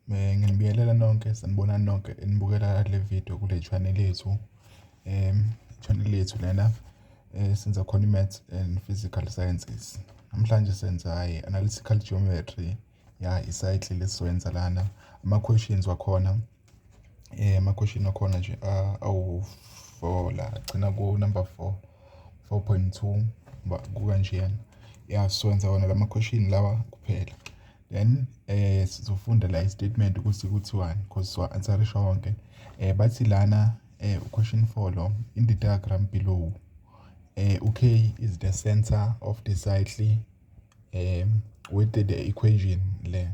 Nginibingelela nonke, sanibonani nonke enibukela le vidiyo kule channel yethu. Channel yethu lena esenza khona i-Maths and Physical Sciences. Namhlanje senza i-Analytical Geometry, ya i-cycle esizoyenza lana. Ama-questions wakhona, ama-question wakhona nje awu-four la, agcina ku-number four, four point two, kukanjena. Ya, sizokwenza wona lama-question lawa kuphela. then eh sizofunda la istatement ukuthi kuthiwani because siwa answerisha wonke eh bathi lana eh question 4 lo in the diagram below eh UK is the center of the cycle eh with the equation le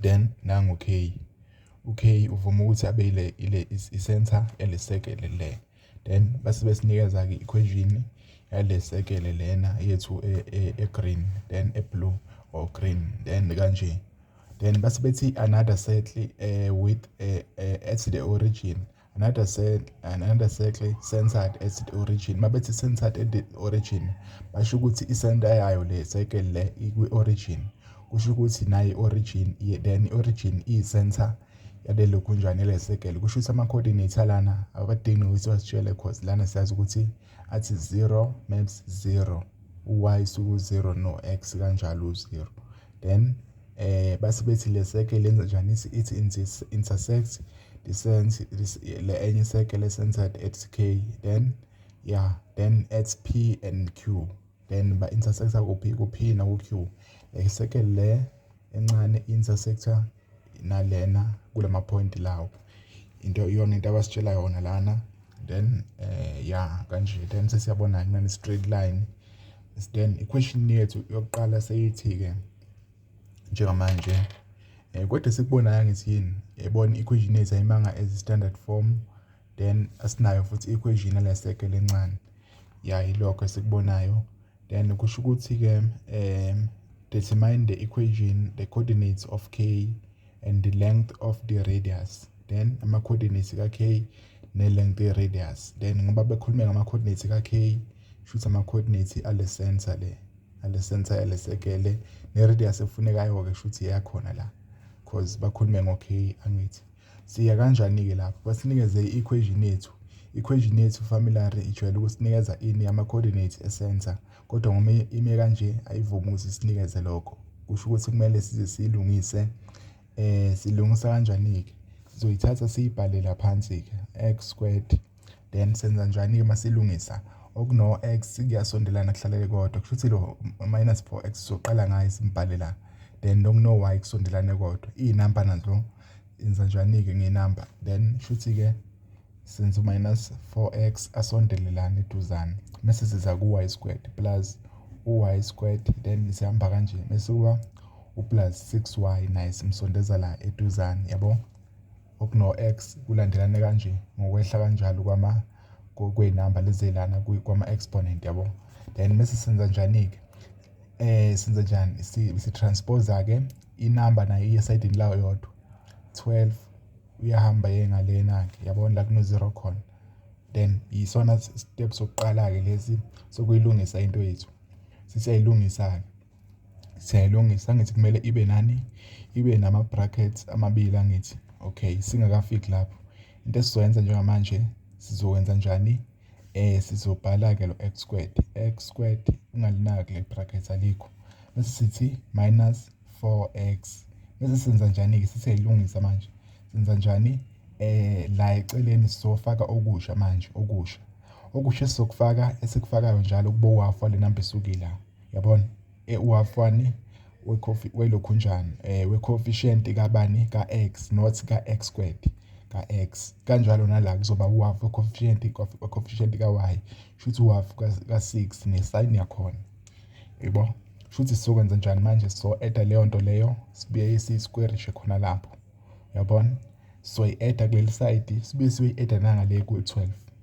then nangu K UK uvuma ukuthi abe ile ile i-center elisekele le then base besinikeza-ke i-equation yale sekele lena yethu e-green e, e then e-blue or green then kanje then base bethi another circle uh, with uh, uh, at the origin another cell another circle centered at the origin mabethi centered at the origin basho ukuthi isenta yayo le circle le ikwi-origin kusho ukuthi nayo i-origin then i-origin iyi-center yalelo gunjwana elesegele kusho ukuthi ama-coordinates alana awakadingi nokuthi wasitshele cause lana siyazi ukuthi athi 0 maps 0 u-y suku 0 no-x kanjalo u-0 then eh base bethi le circle lenza njani ithi intersect the sense le enye circle centered at k then yeah then at p and q Then ba intersector kuphi ku P na ku Q. Like seke le encane intersector nalena kulama point lawo. Into iyona into abasitshela yona lana. Then eh ya kanje then sesiyabona kunani straight line. Then iquestion yethu yokuqala seyithi ke njengamanje eh kodwa sikubonayo ngithi yini yayibona iquestion yethu ayimanga as standard form. then asinayo futhi i-equation yaleseke lencane ya ilokho esikubonayo then kusho ukuthi-ke um determine the equation the coordinates of k and the length of the radius then ama-coordinates ka-k ne-length ye-radius then ngoba bekhulume ngama-coordinates ka-k shuthi ama-coordinates ale center le ale center yale sekele ne-radius efunekayo-ke shuthi yakhona la cause bakhulume ngo-k angithi Siya kanjani-ke lapho? Basinikeze i-equation yethu. I-equation yethu familiary ijwayele ukusinikeza ini ama-coordinates esensa kodwa ngoma ime kanje ayivumi ukuthi sinikeze lokho. Kusho ukuthi kumele size siyilungise. Um silungisa kanjani-ke? Sizoyithatha siyibhalele phansi-ke x squared. then senza njani-ke uma silungisa okuno-x kuyasondelana kuhlalele kodwa kusho ukuthi lo minus 4x soqala ngayo simbhale la then nokuno-y kusondelane kodwa iy'namba nazo yenza njani-ke ngey'namba then shuthi-ke senza u-minus 4x asondelelane eduzane mese siza ku-y squared plus u-y squared then sihamba kanje mese kuba uplus 6y naye simsondeza la eduzane yabo okuno-X kulandelane kanje ngokwehla kanjalo kwama kwey'namba lezelana kwama-exponent yabo then mese senza njani-ke eh senza njani si-transpose-ke inamba nayo iye esayidini layo yodwa 12 uyahamba ye ngalena-ke yabona la kuno-zero khona then yisona step sokuqala-ke lesi sokuyilungisa into yethu sisiyayilungisa-ke siyayilungisa angithi kumele ibe nani ibe nama-brackets amabili angithi okay singakafiki lapho into esizoyenza njengamanje sizokwenza njani eh sizobhala-ke lo x squared x squared ungalinaki le bracket alikho bese sithi minus 4x bese senza njani-ke siseyilungisa manje senza njani eh la eceleni sizofaka okusha manje okusha okusha esizokufaka esikufakayo njalo kubowafa le namba esukile yabona e uwafani wecofi welokhunjani eh wecoefficient kabani ka x not ka x squared ka x kanjalo nala kuzoba uwaf wecoefficient wecoefficient ka y shuthi uwaf ka 6 nesign yakhona yebo shuthi sizokwenza njani manje so add leyo nto leyo sibuye si square nje khona lapho yabona soyi-add-a kuleli sayidi sibuye siyoyi-add-a nangale ku-12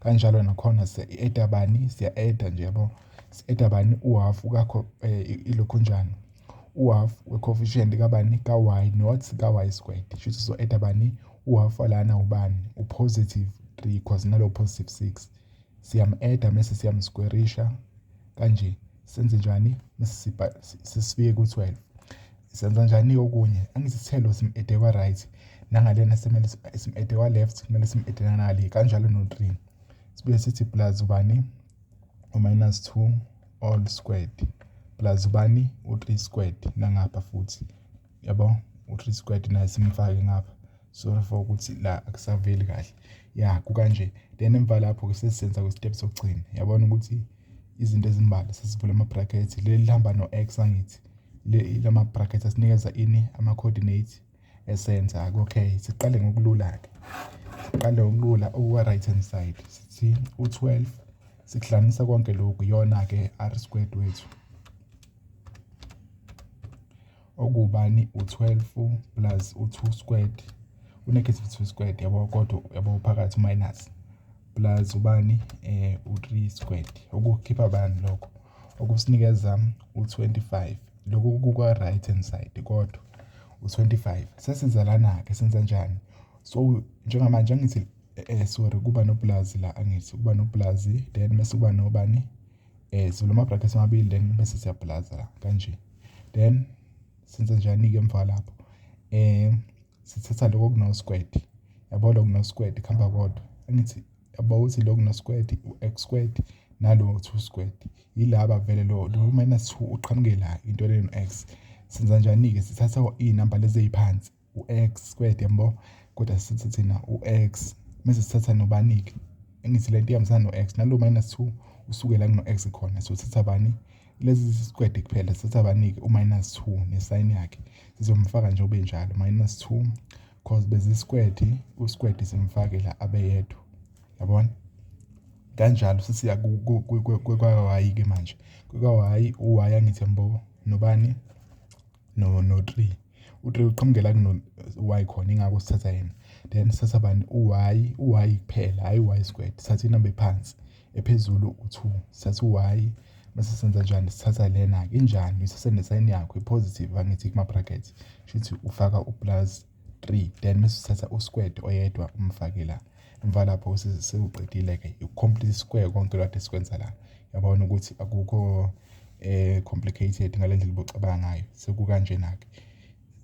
Kanjalo nakhona siya-add-a bani, siya-add-a nje yabo. Si-add-a bani? Uhhafu kakho ilokhunjana. Uhhafu we-coefficient kabani? Ka-y not ka-y squared. Kusho ukuthi sizo-add-a bani? Uhhafu walana ubani? U-positive three cause nalo u-positive six. Siyamu-add-a mese siyamuskwerisha. kanje senze njani sesifike ku-12 senza njani okunye angisithelo sim-ede kwa-right nangalena simele sim-ede kwa-left kumele sim-ede nanale kanjalo no-three sibuye sithi plus ubani u-minus two all squared plus ubani u-three squared nangapha futhi yabo u-three squared naye simfake ngapha sorry for ukuthi la akusaveli kahle ya kukanje then emva lapho-ke sesisenza kwisitep sokugcina yabona ukuthi izinto ezimbala sesivula ama-bracket leli lihamba no-x angithi lama bracket asinikeza ini ama-coordinate esenza okay siqale ngokulula-ke siqale ngokulula okuka-right hand side sithi u-12 sikuhlanganisa konke lokhu iyona-ke r squared wethu Okubani u-12 plus u-2 squared u-negative 2 squared yabo kodwa yabo phakathi minus plus ubani eh u-3 squared okukhipha bani lokho okusinikeza u-25 lokhu kuka right hand side kodwa u-25 sesizalana ke senza njani so njengamanje angithi eh sorry kuba nopulazi la angithi kuba nopulazi then mase kuba nobani eh sivula ama brackets amabili then bese siyablaza la kanje then senze njani ke emva lapho eh sithatha lokho kuno squared yabo lokho kuno squared khamba kodwa angithi yabo uthi lokho kuno squared u-x squared nalo 2 squared yilaba vele lo lo minus 2 uqhamuke la into le no-x senza njani-ke sithatha iy'namba lezi ey'phansi u-X squared yabo kodwa sithi thina u-X mese sithatha nobani-ke engithi lento ihambisana no-X nalo minus 2 usuke la kuno-X khona so sithatha bani lezi sikwede kuphela sithatha bani-ke u-minus 2 nesayini yakhe sizomfaka nje ube njalo minus 2 cause bezisikwede usikwede simfake la abeyedwa yabona kanjalo sisiya kwa-y-ke manje kwa-y u-y angithi yambo nobani no no 3 u-3 uqhamuke la kuno y khona ingakho sithatha yena then sithatha bani u-y u-y kuphela hhayi u-y squared sithatha inamba ephansi ephezulu u-2 sithatha u-y mase senza njani sithatha lena-ke injani uyithatha nesayini yakho i-positive angithi kuma-bracket shuthi ufaka u-plus 3 then mase uthatha u-squared oyedwa umfake la emva lapho sewuqedile-ke you-complete square konke lokade sikwenza la yabona ukuthi akukho eh complicated ngale ndlela ubucabanga ngayo sekukanjena-ke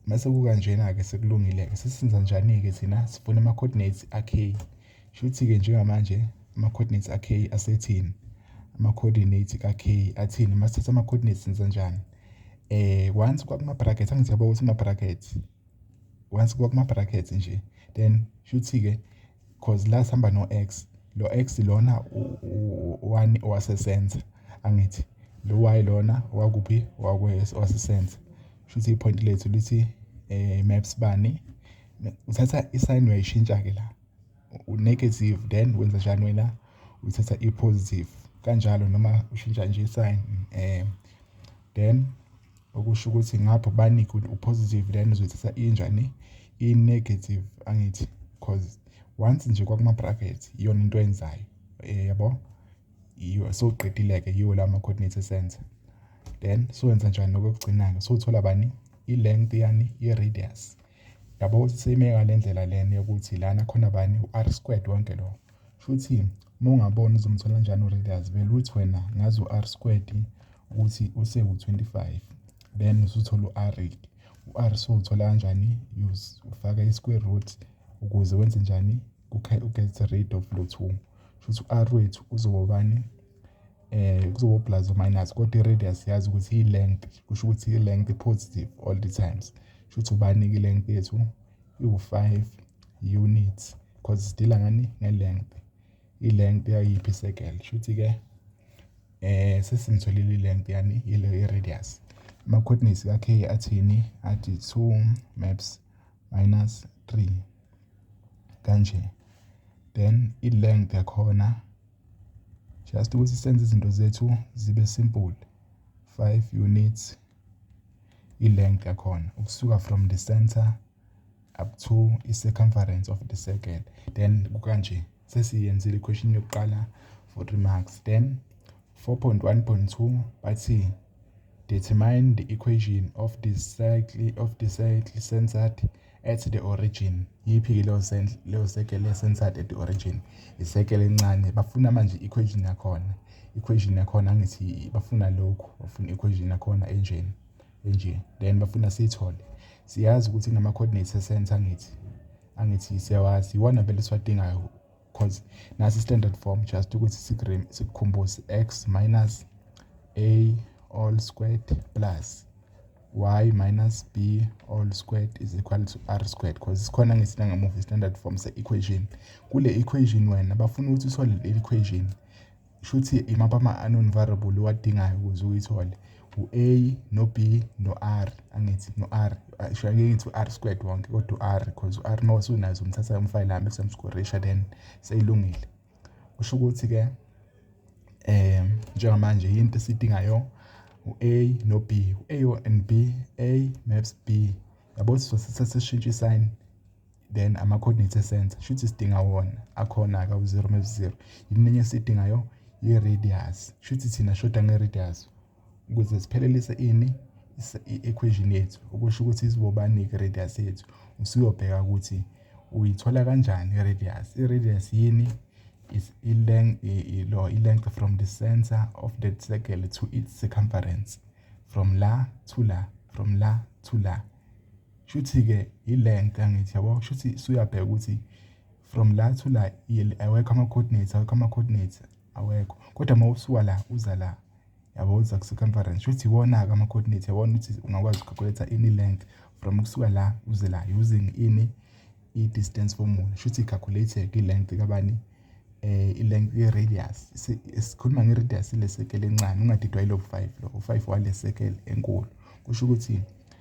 mase kukanjena-ke sekulungile-ke sisenza njani-ke thina sifuna ama-coordinates a-k shuthi-ke njengamanje ama-coordinates a-k asethini ama-coordinates ka-k athini masithatha ama-coordinates senza njani eh once kwakuma-brackets angithi yabo ukuthi ama-brackets once kuba kuma brackets nje then shuthi ke cause la sihamba no x lo x lona one wasesenza angithi lo y lona wakuphi wasesenza shuthi ipoint lethu lithi eh maps bani uthatha isine uyayishintsha ke la unegative then wenza njani wena uthatha ipositive kanjalo noma ushintsha nje isine um then okusho ukuthi ngapha ubanika ukuthi upositive then uzoyithatha injani i-negative angithi because once nje kwakuma-bracket iyona into enzayo eh, yabo yiyo sowuqedile-ke yiwo la ma-coordinate esenza then sowenza njani nokokugcina-ke sowuthola bani i-length yani i-radius yabo ukuthi seyime ngale ndlela lena yokuthi lana khona bani u-r squared wonke lowo Shuthi uma ungabona uzomthola njani uReaders vele uthi wena ngazi u-R squared ukuthi usewu-25 then usuthola u-R u-R sowuthola kanjani ufaka i-square root ukuze wenze njani u-get rid of lo two shuthi u-R wethu uzobobani eh kuzoba plus or minus kodwa i-radius yazi ukuthi i-length kusho ukuthi i-length positive all the times shuthi ubani-ke i-length yethu iwu-5 units because sidila ngani nge-length i-length yayiphi i-circle shuthi ke eh sesingitholile i-length yani ile i-radius ama coordinates ka k athini athi 2 maps minus 3 kanje then i-length yakhona just ukuthi senze izinto zethu zibe simple 5 units i-length yakhona ukusuka from the center up to i-circumference of the circle then kukanje sesiyenzile iquestion yokuqala for 3 marks then 4.1.2 bathi determine the equation of the circle of the circle centered at the origin yiphi-ke leyo circle le-centered at the origin isekele encane bafuna manje i-equation yakhona equation yakhona angithi bafuna lokhu bafuna equation yakhona enjeni nje then bafuna siyithole siyazi ukuthi kunama-coordinates esense angithi angithi siyawazi iwona vele esiwadingayo because nasi standard form just ukuthi sikukhumbuze x minus a all squared plus y minus b all squared is equal to r squared because sikhona ngesina ngamuva standard form se-equation kule equation wena bafuna ukuthi uthole le equation shuthi imaphi ama-unknown variable owadingayo ukuze uyithole u-a no-b no-r angithi no-r sho ngeke ngithi u-r squared wonke kodwa u-r because u-r uma usunazo umthatha umfayile ahambe kusemskorisha then seyilungile kusho ukuthi-ke um njengamanje yinto esidingayo u-a no-b u-a and b a maps b yabo sisosithatha sishintshe isayini then ama-coordinate esensa shuthi sidinga wona akhona-ke u-zero mewu-zero yini enye esiyidingayo i-radius shuthi thina shoda nge-radius ukuze siphelelise ini i-equation yethu okusho ukuthi izibobani-ke i-radius yethu usuyobheka ukuthi uyithola kanjani i-radius i-radius yini is i-length from the center of that circle to its circumference from la to la from la to la Shuthi-ke yilento angithi yabo shuthi suyabheka ukuthi from la to la awekho ama-coordinates awekho ama-coordinates awekho kodwa uma usuka la uza la yabo uza ku-circumference shuthi iwona-ke ama-coordinates yabona ukuthi ungakwazi uku-calculate ini length from kusuka la uze la using ini i-distance formula shuthi i-calculate i-length kabani eh i-length ye-radius sikhuluma nge-radius le circle encane ungadidwa yilo 5 lo u-5 wale circle enkulu kusho ukuthi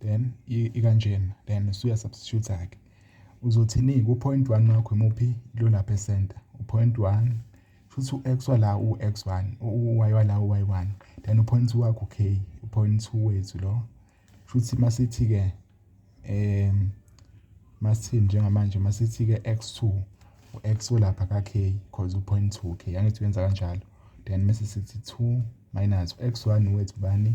then ikanjena then usuya substitute ke uzothini ku point 1 wakho imuphi lo lapha e center u point 1 futhi u x wala u x1 u y wala u y1 then u point 2 wakho k u point 2 wethu lo futhi masithi ke em masithi njengamanje masithi ke x2 u x olapha ka k because u point 2 k angithi wenza kanjalo then mase sithi 2 minus u x1 wethu bani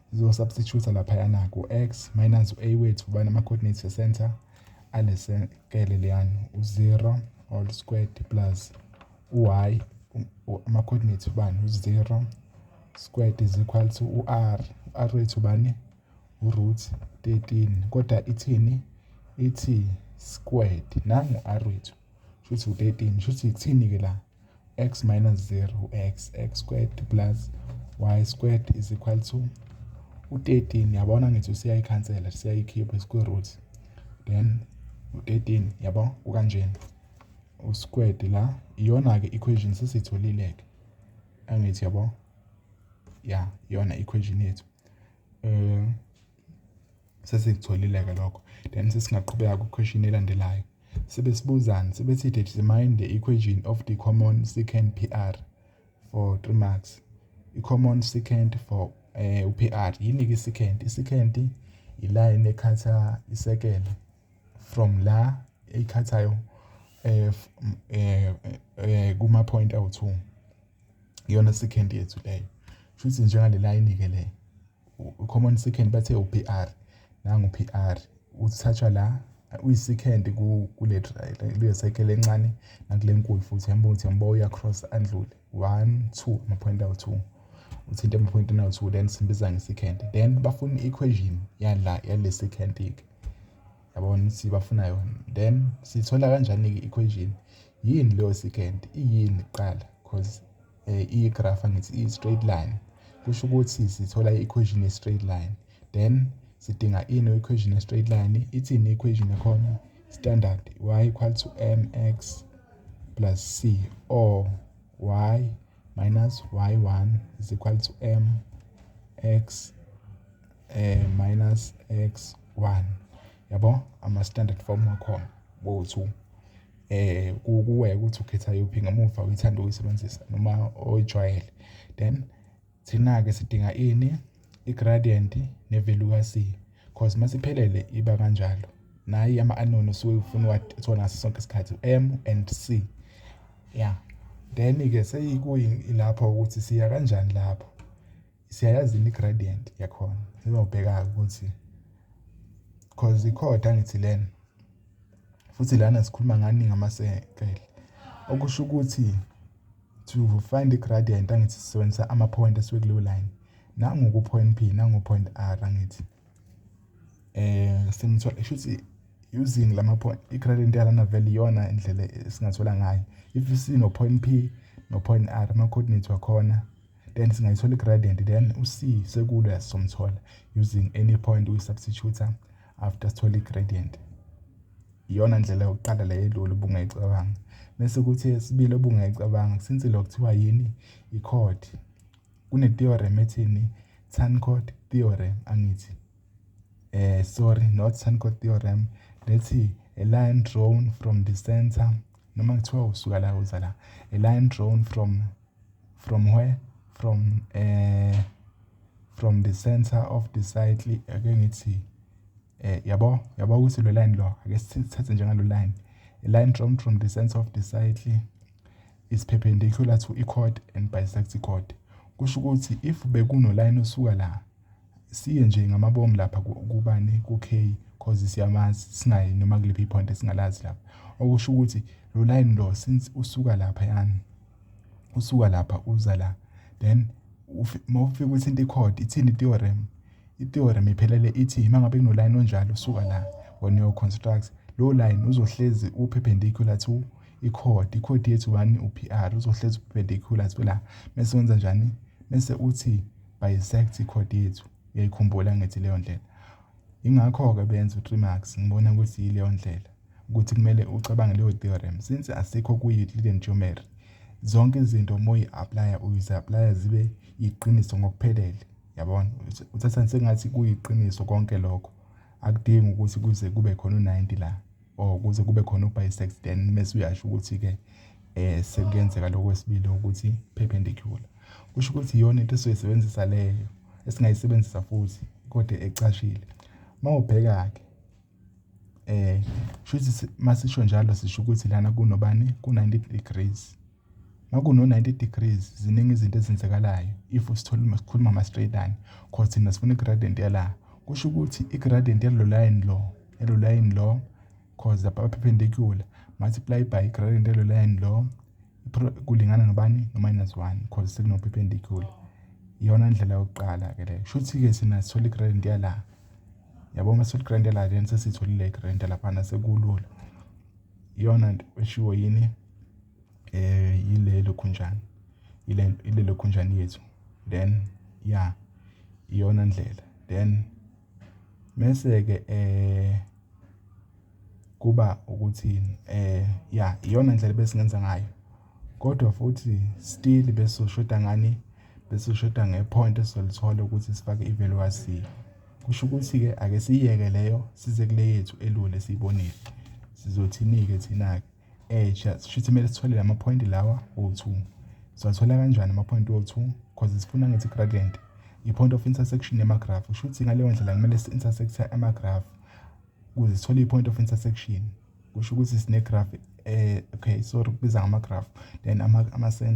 Zizosubstitute laphayana ku-x minus u-a wethu ubani ama-coordinates e-center alesekele leyani u-0 all squared plus u-y ama-coordinates ubani u-0 squared is equal to u-r u-r wethu ubani u-root 13 kodwa ithini ithi squared nangu u-r wethu shuthi u-13 shuthi kuthini-ke la x minus 0 x x squared plus y squared is equal to u-13 yabona ngithi usiyayikhansela siyayikhipha i-square root then u-13 yabo ukanjena u-squared la iyona-ke equation sesitholile-ke angithi yabo ya iyona equation yethu um Sesikutholile-ke lokho then sesingaqhubeka kwikhweshini elandelayo. Sibe sibuzani sibe sithi determine the equation of the common secant PR for 3 marks. I-common secant for um eh, u-PR yini-ke i-secant? I-secant ilayini ekhatha isekela from la eyikhathayo um eh, eh, kuma-point awu-two. Iyona secant yethu leyo. Shuthi njengale layini-ke le common second bathe u-PR nangu u-PR uthathwa la uyi-second kule kule cycle encane nakule nkulu futhi uyambona ukuthi yambo uyacross andlule one two ama-point awu-two uthinte ama-point nawu-two then simbiza nge-second then bafuna i-equation yala yale second-ke yabona ukuthi bafuna yona then siyithola kanjani-ke i-equation yini leyo second iyini kuqala cause eh, i-graph angithi i-straight line kusho ukuthi sithola i-equation ye-straight line then sidinga ino equation ye-straight line ithini i-equation yakhona standard y equal to mx plus c or y minus y1 is equal to m x eh, minus x1 yabo ama-standard form wakhona bowu-two eh kuwe ukuthi ukhetha yuphi ngemuva uyithanda ukuyisebenzisa noma oyijwayele then thina-ke sidinga ini i-gradient ne-value ka-c cause uma siphelele iba kanjalo nayi ama-anon usuke ufuna uwathola ngaso sonke isikhathi m and c ya then-ke seyikuyilapho ukuthi siya kanjani lapho siyayazi i-gradient yakhona sizobheka-ke ukuthi cause ikhoda ngithi lena futhi lana sikhuluma ngani ngamasekele okusho ukuthi to find i-gradient angithi sisebenzisa ama-point asuke kuleyo line nangoku-point p nango-point r angithi um sengithola kusho ukuthi using lama point i-gradient yalana vele iyona indlela esingathola ngayo if sino-point p no-point r ama-coordinate wakhona then singayithola i-gradient then u-c sekulo yasizomthola using any point uyi-substitute after sithole i-gradient iyona ndlela yokuqala le elula ubungayicabanga bese kuthi esibili obungayicabanga since lo kuthiwa yini i-chord kune-theorem ethini tan chord theorem angithi eh sorry not tan chord theorem lethi a line drawn from the center noma kuthiwa usuka la uza la a line drawn from From where? From eh from the center of the cycle ake ngithi eh yabo yabo ukuthi lo line lo ake sithathe njengalo line a line from from the center of the cycle is perpendicular to i-chord and bisect i-chord kusho ukuthi if bekuno line osuka la Siye nje ngamabomu lapha kubani ku-K cause siyamazi singayi noma kuliphi i-point esingalazi lapha. Okusho ukuthi lo layini lo since usuka laphayana, usuka lapha uza la then uma ufika uthinte i-chord ithini i-theorem? I-theorem iphelele ithi uma ngabe kunolayini onjalo usuka la wena uyo-construct lowo layini uzohlezi u-perpendicular to i-chord, i-chord yethu ubani u-P_R uzohlezi u-perpendicular to la. Mese wenza njani? Mese uthi Bisect ikhodi yethu uyayikhumbula ngithi leyo ndlela ingakho-ke benza u-three marks ngibona ukuthi yileyo ndlela ukuthi kumele ucabange leyo theorem since asikho kuyi-euclidean geometry zonke izinto uma uyi-aplaya uyizi-aplaya zibe yiqiniso ngokuphelele yabona uthatha sengathi kuyiqiniso konke lokho akudingi ukuthi kuze kube khona u-90 la or oh, kuze kube khona ubisex then mese uyasho ukuthi-ke um sekuyenzeka lokho kwesibili ukuthi perpendicular kusho ukuthi iyona into esizoyisebenzisa leyo esingayisebenzisa futhi kodwa ecashile uma ubheka-ke um shuthi masisho njalo sisho ukuthi lana kunobani ku-ninety degrees Makuno 90 degrees ziningi izinto ezenzakalayo if sithole sikhuluma ama straight line cause thina sifuna i-gradient yala kusho ukuthi i-gradient yalo line lo yalo line lo cause lapha perpendicular multiply by i-gradient yalo line lo kulingana nobani no-minus 1 cause sekuno perpendicular iyona ndlela yokuqala ke leyo shuthi ke sina sithola i-gradient yala yabo uma sithola i-gradient yala then sesitholile i-gradient yalaphana sekulula iyona nto eshiwo yini eh yile lokhunjana ile ile lokhunjana yethu then ya iyona ndlela then mese ke eh kuba ukuthi eh ya iyona ndlela besingenza ngayo kodwa futhi still besoshoda ngani besoshoda ngepoint esizolithola ukuthi sifake ivaluation kusho ukuthi ke ake siyeke leyo size kule yethu elule siyibonile sizothini ke thina ke Eh just shuthi kumele sithole lama point lawa o2. Siwathola kanjani ama point o2? Because sifuna ngithi gradient i-point of intersection yama graph. Shuthi ngaleyo ndlela kumele si intersecte ama graph ukuze sithole i-point of intersection. Kusho ukuthi sine graph eh okay sorry kubiza ngama graph then ama ama center